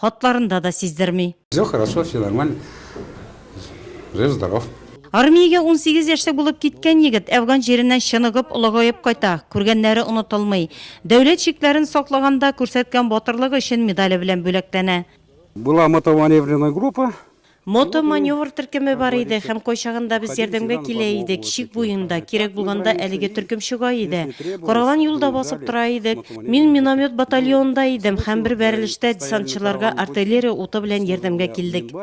Хатларында да сиздерми. Все хорошо, все нормально, жив здоров. Армиягә унсигез яшьтә булып киткән егет әфган җиреннән чыныгып, олыгаеп кайта. Күргәннәре онытылмый. Дәүләт чикләрен саклаганда күрсәткән батырлыгы өчен медале белән бүләкләнә. Была мотоманевренная группа, Мото маневр төркеме бар иде һәм кайчагында без ярдәмгә килә идек, чик буенда, кирәк булганда әлеге төркем чыга иде. Караган юлда басып тора идек. Мин миномет батальонында идем һәм бер бәрелештә десантчыларга артиллерия уты белән ярдәмгә килдек.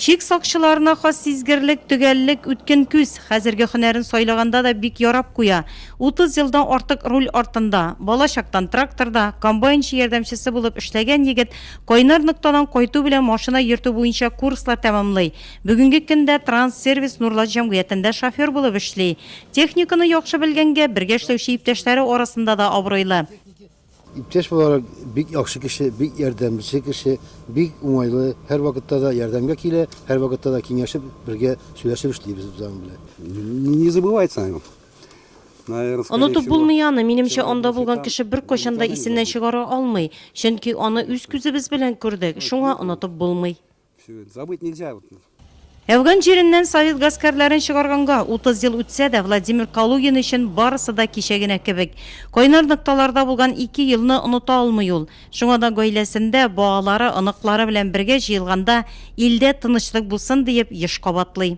Чик сакчыларына хас сизгерлек, төгәллек, үткен күз. Хәзерге һөнәрен сайлаганда да бик ярап куя. Утыз елдан артык руль артында, бала чактан тракторда, комбайнчы ярдәмчесе булып эшләгән егет Кайнар ноктадан кайту белән машина йөртү буенча курслар тәмамлый. Бүгенге көндә Транссервис Нурлат җәмгыятендә шофер булып эшли. Техниканы яхшы белгәнгә, бергә эшләүче иптәшләре арасында да абруйлы. Иптәш буларак, бик яхшы кеше, бик ярдәмче кеше, бик уңайлы, һәрвакытта да ярдәмгә килә, һәрвакытта да киңәшеп, бергә сөйләшеп эшлибез без аның белән. Не забывается о нем. Онытып булмый аны, минемчә, анда булган кеше беркайчан да исеннән чыгара алмый, чөнки аны үз күзебез белән күрдек, шуңа онытып булмый. Әфган җиреннән совет гаскәрләрен чыгарганга 30 ел үтсә дә, Владимир Калугин өчен барысы да кичә генә кебек. Кайнар нокталарда булган ике елны оныта алмый ул. Шуңа да гаиләсендә, балалары, оныклары белән бергә җыелганда, илдә тынычлык булсын диеп, еш кабатлый.